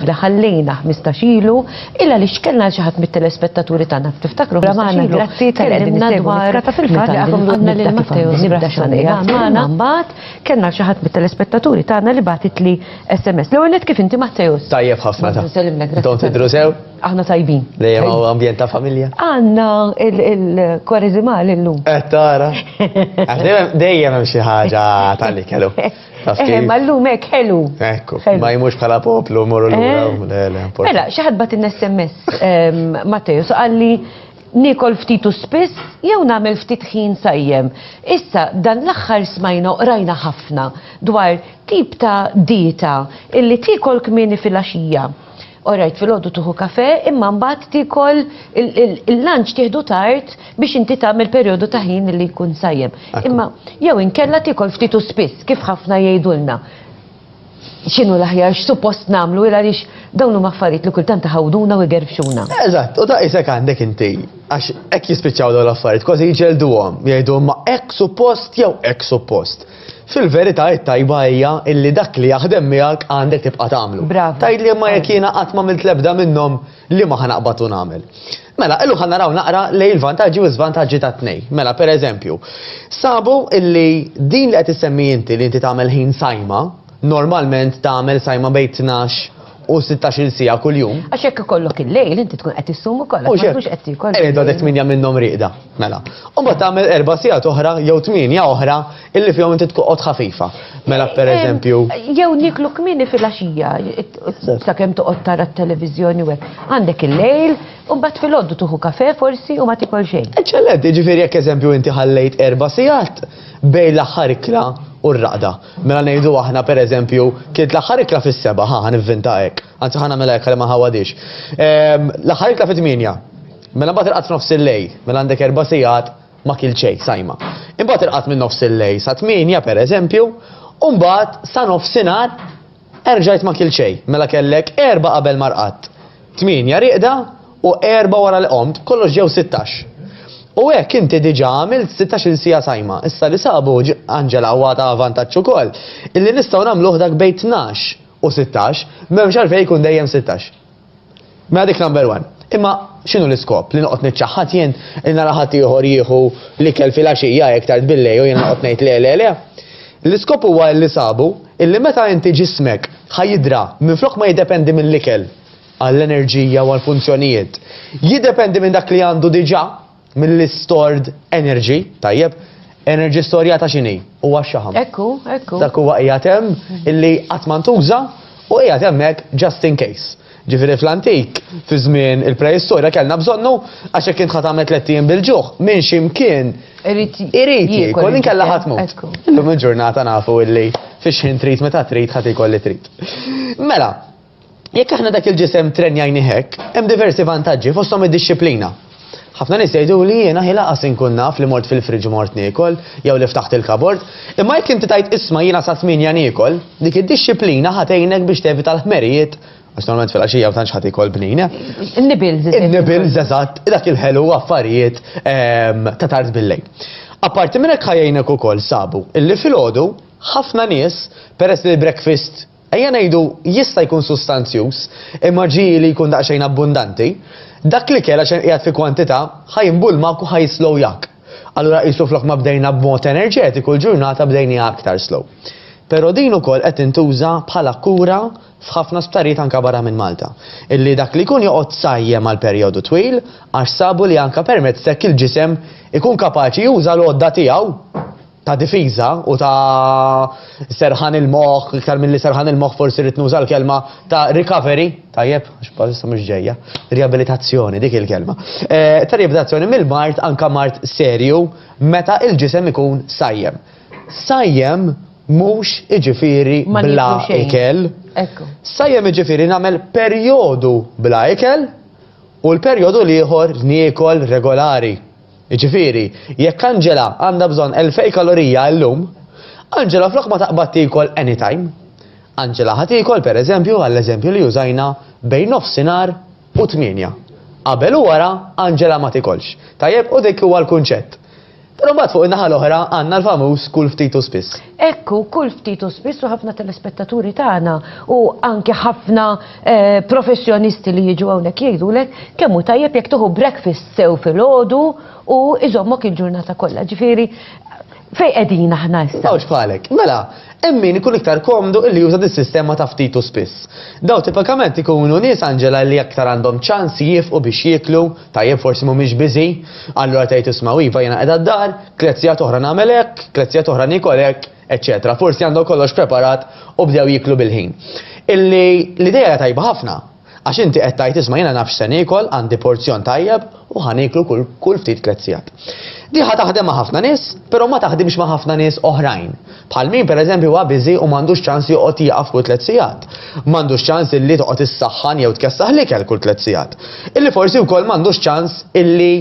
Aħna ħallejna ħmistax ilu, illa li x'kellna għal xi ħadd mit-telespettaturi tagħna, tiftakru ħmistax ilu Grazzi tal-li qegħdin issegwu l-iskata fil-fatt li għadhom għandna lil Matteo Zibda xogħol li għamel magħna. Mbagħad kellna għal xi ħadd mit-telespettaturi tagħna li bagħtitli SMS. L-ewwel nett kif inti Matteus? Tajjeb ħafna. Bonġu nsellimlek, grazzi. Intom tidhru sew? Aħna tajbin. Dejjem hawn ambjent ta' familja. Għandna il-Kwareżimal illum. Qed tara. Dejjem hemm xi ħaġa tal-li kellu. Eh, ma l-lum ek ħelu. Ekku, ma jimux bħala poplu, morru l-lum. Eh? Mela, xaħad bat n-SMS, ehm, Mateo, so għalli nikol ftitu spiss, jew namel ftit ħin sajjem. Issa, dan l-axħar smajna rajna ħafna dwar tip ta' dieta illi tikol kmini fil-axija. Orajt filgħodu tuħu kafè imma mbagħad tiekol il-lunch tieħdu tard biex inti tagħmel perjodu ta' ħin li jkun sajjem. Imma jew inkella tiekol ftit u spiss kif ħafna jgħidulna x'inhu l-aħjar x'suppost nagħmlu għaliex dawn huma affarijiet li kultant iħawduna u jgerfxuna. Eżatt, u daqshekk għandek inti għax hekk jispiċċaw dawn l-affarijiet kważi jġelduhom, jgħidu imma hekk suppost jew hekk suppost. Fil-verità it-tajba hija illi dak li jaħdem miegħek għandek tibqa' tagħmlu. Bravo. Tgħidli imma jekk jiena qatt m'għamilt l-ebda minnhom liema ħa naqbad u nagħmel? Mela, illum ħa naraw naqra lejn il-vantaġġi u l-żvantaġġi tat-tnejn. Mela, pereżempju, sabu illi din li qed issemmi inti li inti tagħmel ħin sajma, normalment tagħmel sajma bejn tnax u 16-il siegħa kuljum. Għax jekk ikollok il-lejl inti tkun qed issum ukoll għax ma tkunx qed tiekol. Qiegħed għadek tmienja minnhom rieqda, mela. U mbagħad tagħmel erba' sigħat oħra jew tmienja oħra illi fihom inti tqgħod ħafifa. Mela pereżempju. Jew nieklu kmieni filgħaxija sakemm toqgħod tara t-televiżjoni u hekk. Għandek il-lejl u mbagħad filgħodu tieħu kafè forsi u ma tiekol xejn. Eċċellenti, jiġifieri jekk eżempju inti ħallejt erba' sigħat bejn l-aħħar ikla u r-raqda. Mela ngħidu aħna, per eżempju, kienet l-aħħar ikla fis-seba', ħa, ħa nivvinta hekk, anzi ħa nagħmilha hekk għalli ma ħawadhiex. Ehm, l-aħħar ikla fit-tmienja. Mela mbagħad il-qatt f'nofs il-lejl, mela għandek erba' sigħat ma kil xejn sajma. Imbagħad il-qatt minn nofs il-lejl sa tmienja, per eżempju, u mbagħad sa nofsinhar Erġajt ma kilt xejn, mela kellek erbgħa qabel ma rqadt, tmienja rieqda u erbgħa wara li qomt, kollox ġew sittax. U hekk inti diġà għamilt sittax-il siegħa sajma. Issa li sabu, Angela, u għad haha vantaġġ ukoll, illi nistgħu nagħmluh dak bejn tnax u sittax, m'hemmx għalfejn ikun dejjem sittax. Mela dik number one. Imma x'inhu l-iskop? Li noqgħod niċċaħħad jien li nara ħadd ieħor jieħu l-ikel filgħaxija hekk tard billejl u jiena noqgħod ngħid le le le? L-iskop huwa illi sabu illi meta inti ġismek ħa jidra minflok ma jiddependi mill-ikel għall-enerġija u għall-funzjonijiet, jiddependi minn dak li għandu diġà. mill-istored energy, tajjeb, energy storjata x'inhi? Huwa x-xaħam. Hekk hu, hekk hu. Dak huwa qiegħed hemm illi qatt ma ntuża u qiegħed hemmhekk just in case. Ġifieri fl-antik, fi żmien il-preistorja kellna bżonnu għax jekk int ħa tagħmel tliet ijiem bil-ġuħ, minn xi mkien irid jiekol inkella ħa tmut. Illum il-ġurnata nafu illi fix-xħin trid meta trid ħa tiekol li trid. Mela, Jekk aħna dak il-ġisem trenjajnih hekk, hemm diversi vantaġġi, fosthom id-dixxiplina. Ħafna nies jgħiduli jiena hi laqas inkun naf li mort fil-fridge u mort niekol, jew li ftaħt il-kabord. Imma jekk inti tgħid isma' jiena sa tmienja niekol, dik id-dixxiplina ħa tgħinek biex tevita l-ħmerijiet, għax normalment filgħaxija ma tantx ħadd ikol bnin, eh? In-nibbles, eżempju. In-nibbles, eżatt, dak il-ħelu u affarijiet ta' tard bil-lejl. Apparti minn hekk ħa jgħinek ukoll, sabu, illi filgħodu, ħafna nies, peress li l-breakfast, Ejja ngħidu, jista' jkun sustanzjuż, imma ġieli li jkun daqsxejn abbundanti. Dak l-ikel, għax hemm qiegħed fi kwantità, ħa jinbulmak u ħa jislow jak. Allura qisu flok ma bdejna b'mod enerġetiku l-ġurnata bdejniha aktar slow. Però din ukoll qed tintuża bħala kura f'ħafna sptarijiet anka barra minn Malta. Illi dak li jkun joqgħod sajjem għal perjodu twil għax sabu li anka permezz t'hekk il-ġisem ikun kapaċi juża l-għodda tiegħu. ta' difiża u ta' serħan il-moħħ, iktar milli serħan il-moħħ forsi rrid nuża l-kelma ta' recovery, tajjeb, għax bħalissa mhux ġejja, riabilitazzjoni dik il-kelma. Eh, ta' riabilitazzjoni mill-mart anka mart serju meta il-ġisem ikun sajjem. Sajjem mhux iġifieri bla ikel. Sajjem iġifieri nagħmel perjodu bla ikel u l-perjodu l-ieħor niekol regolari. Jiġifieri, jekk Angela għandha bżonn elfej kalorija illum, Angela flok ma taqbad tiekol anytime, Angela ħa tiekol, per eżempju, għall-eżempju li użajna, bejn nofsinhar u tmienja. Qabel u wara, Angela ma tiekolx. Tajjeb? U dik huwa l-kunċett. Però mbagħad fuq in-naħa l-oħra għandna l-famuż kul ftit u spiss. Hekk hu, kull ftit u spiss u ħafna telespettaturi tagħna u anke ħafna professjonisti li jiġu hawnhekk jgħidulek kemm hu tajjeb jekk tieħu breakfast sew filgħodu u jżommok il-ġurnata kollha. Ġifieri, fejn qegħdin aħna issa? M'hawnx bħalek. Mela, hemm min ikun iktar komdu illi juża dis-sistema ta' ftit u spiss. Dawn tipikament ikunu nies, Angela, illi aktar għandhom ċans jiefqu biex jieklu, tajjeb forsi mhumiex busy, allura tgħid isma' u iva jiena qiegħda d-dar, Tliet sigħat oħra nagħmel hekk, tliet sigħat oħra niekol hekk, eċċetera. Forsi għandhom kollox preparat u bdew jieklu bil-ħin. Illi l-idea hija tajba ħafna, għax inti qed tgħid isma' jiena naf x'se niekol, għandi porzjon tajjeb u ħa nieklu kull ftit tliet sigħat. Di ħa taħdem ma' ħafna nies, però ma taħdimx ma' ħafna nies oħrajn. Bħal min pereżempju huwa biżi u m'għandux ċans joqgħod jieqaf kull tliet sigħat. M'għandux ċans illi toqgħod issaħħan jew tkessaħ l-ikel kull tliet sigħat. Illi forsi wkoll m'għandux ċans illi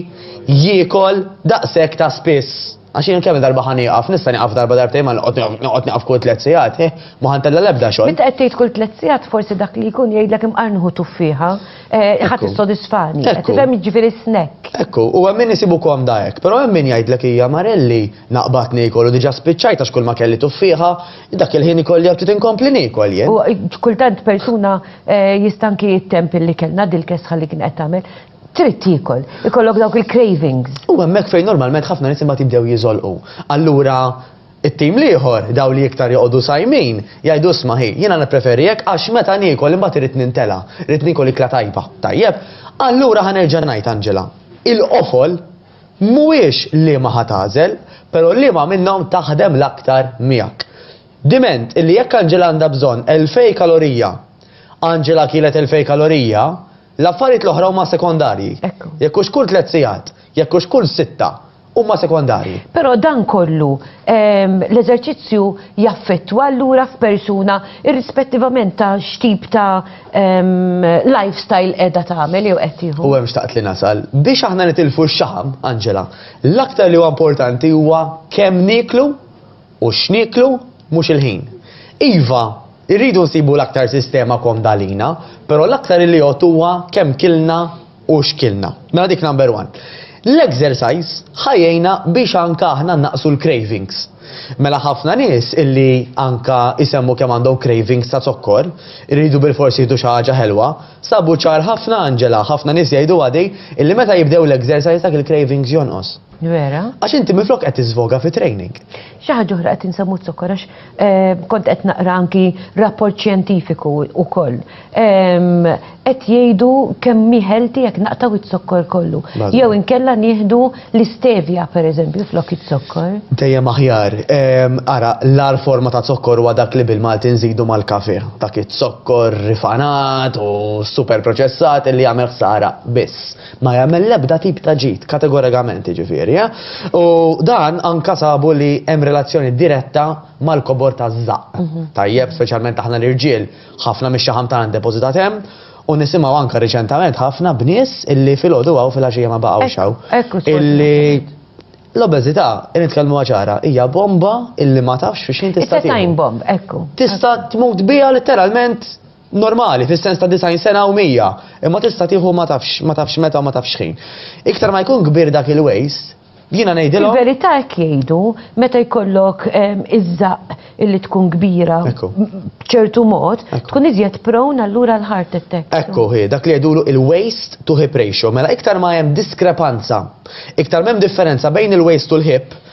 jiekol daqshekk ta' spiss. Għax jien kemm-il darba ħa nieqaf, nista' nieqaf darba darbtejn ma noqgħod nieqaf kull tliet sigħat, eh, ma ħa ntella' l-ebda xogħol. Meta qed tgħid kull tliet sigħat forsi dak li jkun jgħidlek imqar nieħu tuffieħa, eh, ħa tissodisfani, qed tifhem jiġifieri snack. Ekku, u hemm min isibu komda hekk, però hemm min jgħidlek hija marelli, naqbad niekol u diġà spiċċajt għax kulma kelli tuffieħa, dak il-ħin ikolli ftit inkompli niekol jien. U kultant persuna, eh, jista' anki jittemm fil-li kellna dil-kesħa li kien qed tagħmel. trid tiekol, ikollok dawk il-cravings. U hemmhekk fejn normalment ħafna nies imbagħad jibdew jiżolqu. Allura it-tim l-ieħor, dawn li iktar joqogħdu sajmin, jgħidu isma' hi, jiena nippreferi hekk għax meta niekol imbagħad irid nintela', irid niekol ikla tajba. Tajjeb? Allura ħa nerġa' ngħid Angela, il-qofol mhuwiex liema ħa tagħżel, però liema minnhom taħdem l-aktar miegħek. Diment illi jekk Angela għandha bżonn elfej kalorija, Angela kielet elfej kalorija, L-affarijiet l-oħra huma sekondarji. Ekku. Jekk hux kull tliet sigħat, jekk hux kull sitta, huma sekondarji. Però dan kollu, ehm, l-eżerċizzju jaffettwa allura f'persuna irrispettivament ta' x'tip ta' ehm, lifestyle qiegħda tagħmel jew qed tieħu. U hemm xtaqt li nasal. Biex aħna nitilfu x-xaħam, Angela, l-aktar li huwa importanti huwa kemm nieklu U x'nieklu? Mhux il-ħin. Iva, irridu nsibu l-aktar sistema komda għalina, però l-aktar iliot huwa kemm kilna u x'kilna. Mela dik number one. L-exercise ħa jgħinna biex anke aħna nnaqqsu l-cravings. Mela ħafna nies illi anke jsemmu kemm għandhom cravings ta' zokkor, iridu bilfors jieħdu xi ħaġa ħelwa, sabu ċar ħafna Angela, ħafna nies jgħiduha di, illi meta jibdew l-exercise dak il-cravings jonqos. Vera? Għax inti minflok qed tiżvoga fi training. Xi ħaġa oħra qed insemmu zokkor għax eh, kont qed naqra anki rapport xjentifiku wkoll. Ehm, qed jgħidu kemm miħelti jekk naqtaw iz-zokkor kollu. Jew inkella nieħdu l-istevja pereżempju flok iz-zokkor. Dejjem aħjar. Ehm, ara, l-ar forma ta' zokkor huwa dak li bil-Malti nżidu mal-kafe. Dak iz-zokkor rifanat u super proċessat li jagħmel ħsara biss. Ma jagħmel l-ebda tip ta' ġid, kategorikament jiġifieri, eh? U dan anka sabu li hemm relazzjoni diretta mal-kobor taż-żaqq. Mhm. Tajjeb, speċjalment aħna l-irġiel, ħafna mix-xaħam tagħna ndepożitat hemm, u nisimgħu anka riċentament ħafna b'nies illi filgħodu hawn fil-għaxija ma baqgħux hawn. Illi l-obeżità, nitkellmu ċara, hija bomba illi ma tafx fiex jien tista' It's a time bomb, ekku. Tista' tmut biha letteralment normali, fis-sens ta' disgħin sena u mija, imma tista' tieħu ma tafx, ma tafx meta u ma tafx x'ħin. Iktar ma jkun kbir dak il-waste, jiena ngħidilhom. Fil-verità hekk jgħidu, meta jkollok iż-żaqq illi tkun kbira b'ċertu mod, tkun iżjed prone allura għal heart attack. Ekku hi, dak li jgħidulu il-waste to hip ratio. Mela iktar ma hemm diskrepanza, iktar m'hemm differenza bejn il-waste u l-hip,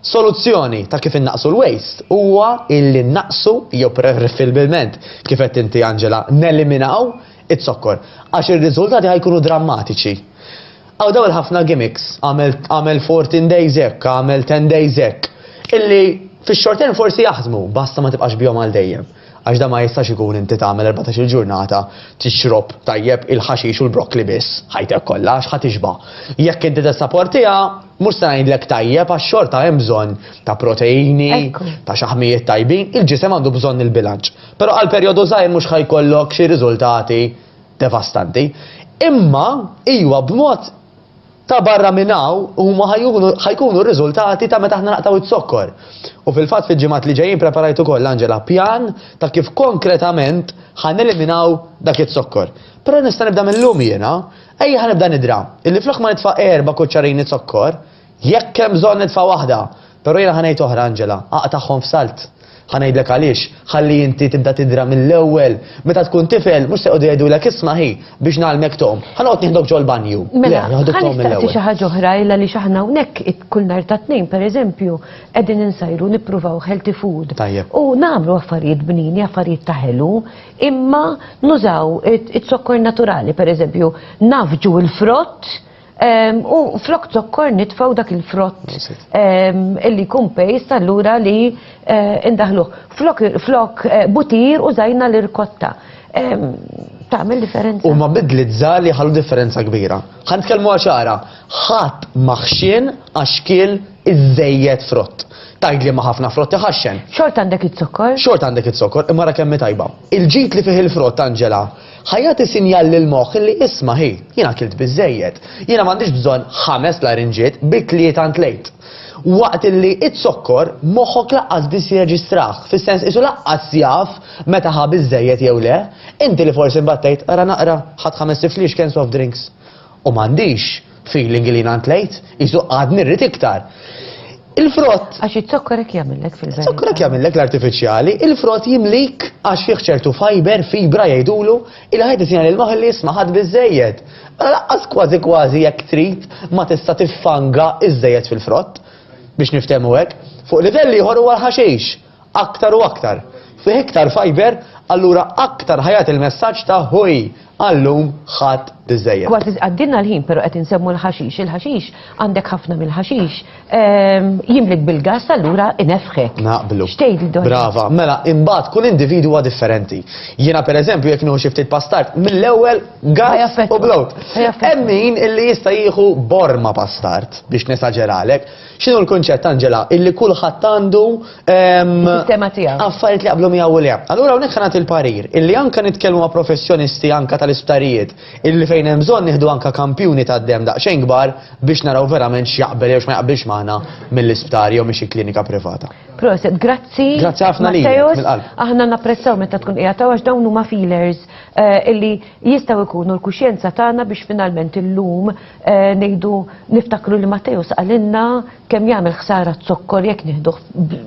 Soluzzjoni ta' kif innaqqsu l-waste huwa illi nnaqqsu jew preferibilment, kif għedt inti Angela, neliminaw iz-zokkor, għax ir-riżultati ħa jkunu drammatiċi. Hawn dawn il-ħafna gimmicks, agħmel agħmel fourteen days hekk, agħmel ten days hekk, illi fix-short term forsi jaħdmu, basta ma tibqax bihom għal dejjem. Għax dan ma jistax ikun inti tagħmel erbatax-il ġurnata tixrob tajjeb il-ħaxix u l-brokkli biss ħajtek kollha għax ħa tixba'. Jekk inti tessaportiha, mhux se ngħidlek tajjeb għax xorta hemm bżonn ta' proteini, ta' xaħmijiet tajbin, il-ġisem għandu bżonn il-bilanċ. Però għal perjodu żgħir mhux ħa jkollok xi riżultati devastanti. Imma iwa b'mod Ta' barra minn hawn, huma ħa jkunu r-riżultati ta' meta aħna naqtgħu iz-zokkor. U fil-fatt fil-ġimgħat li ġejjin preparajt ukoll, Angela, pjan ta' kif konkretament ħa neliminaw dak iz-zokkor. Però nista' nibda mil-lum jiena. Ejja ħa nibda nidra, illi flok ma nitfa' erba' kuċċarini zokkor, jekk hemm bżonn nitfa' waħda, Però jiena ħa ngħid oħra, Angela, aqtagħhom f'salt. Ħa ngħidlek għaliex, ħalli inti tibda tidra mill-ewwel. Meta tkun tifel, mhux se jqogħdu jgħidulek isma' hi, biex ngħallmek tgħum, ħa noqgħod nieħdok ġol-banju. Le, Mela, ħa jaħduk tgħum nistaqsi mill-ewwel. xi ħaġa oħra, il għaliex aħna hawnhekk it- kull nhar ta' Tnejn, pereżempju, qegħdin insajru nippruvaw healthy food. Tajjeb. U nagħmlu affarijiet bnini, affarijiet ta' ħelu, imma nużaw it- it-zokkor naturali, pereżempju, nafġu l-frott U flok zokkor nitfaw dak il-frott illi jkun pejst allura li eh, indaħluh. Flok, flok eh, butir u zajna l-irkotta. Tagħmel differenza. U ma bidlit żgħar li ħallu differenza kbira. Ħan tkellmu għaxara, ħadd maħxien għax kiel iżejjed frott. Tajd li ma ħafna frott iħaxxen. Xort għandek it-zokkor? Xort għandek it-zokkor, imma ra kemm tajba. Il-ġid li fih il-frott Anġela Ħa jagħti sinjal lill-moħħ li isma' hi, jien akilt biżżejjed. Jiena m'għandix bżonn ħames larinġiet, bi tlieta ntlejt. Waqt li izzokkor, moħħok laqqas biss jirreġistrah, fis-sens qisu laqqas jaf meta ħa biżżejjed jew le. Inti li forsi mbattejt, ara naqra, ħadt ħames tifliex kenn soft drinks. U m'għandix. Feeling li nant lejt, jisu għadni rrit iktar. Il-frott. Għax it-zokkor ek jamillek fil-verità. Zokkor ek jamillek l-artificiali, il-frott jimlik għax fih ċertu fiber, fibra jgħidulu, il-ħajt isina l-maħli smaħat bizzejed. Mela laqqas kważi kważi jekk trid ma tista' tiffanga iżżejjed fil-frott biex niftehmu hekk. Fuq livelli ieħor huwa l-ħaxix. aktar u aktar, fih iktar fajber, allura aktar ħa jagħti l-messaġġ ta' ħuj, għal-lum ħadt biżżejjed. Kważi għaddielna l-ħin pero qed insemmu l-ħaxix, il-ħaxix, għandek ħafna mill-ħaxix, jimlik bil-gass allura ineffħek. Naqblu. X'tgħid Donna? Brava. Mela, imbagħad kull individwu huwa differenti. Jiena pereżempju jekk nieħu xi ftit pastard, mill-ewwel gass u blowt. Hemm min illi jista' jieħu borma pastard biex nesaġeralek. X'inhu l-kunċett, Angela, illi kulħadd għandu Is-sistema tiegħu. affarijiet li jaqblu miegħu u le. Allura hawnhekk ħa nagħti l-parir illi anke nitkellmu ma' professjonisti anke tal-isptarijiet illi fejn hemm bżonn nieħdu anke kampjuni tad-demm daqsxejn kbar biex naraw verament x'jaqbel jew x'ma jaqbilx magħna mill-isptar jew minn xi klinika privata. Proset, grazzi. Grazzi ħafna lilek, Matteos. mill-qalb. Aħna napprezzaw meta tkun qiegħed hawn għax dawn huma feelers eh, illi jistgħu jkunu l-kuxjenza tagħna biex finalment illum Eh, nejdu niftakru li Matteo saqalinna kemm jagħmel ħsara zokkor jekk nieħdu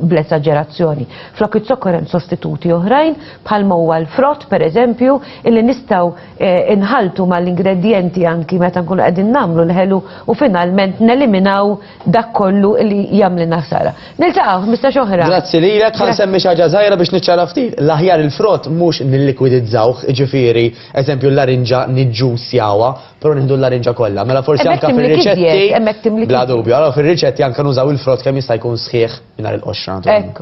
bl-eżaġerazzjoni. Flok iż-zokkor hemm sostituti oħrajn bħal huwa l-frott pereżempju illi nistgħu eh, inħaltu mal-ingredjenti anki meta nkunu qegħdin nagħmlu l-ħelu u finalment neliminaw dak kollu li jagħmlilna ħsara. Niltaqgħu mista' oħra. Grazzi lilek ħan semmi xi ħaġa żgħira biex niċċara ftit. L-aħjar il-frott mhux nillikwidizzawh, ġifieri, eżempju l-larinġa niġġusjawha Però nieħdu l-larinġa kollha, mela forsi Hemmhekk anke timlik iżjed, fir-riċetti. hemmhekk timlik Bla iżjed. dubju, allora fir-riċetti anke nużaw il-frott kemm jista' jkun sħiħ mingħajr il-qoxra naturalment. Hekk hu.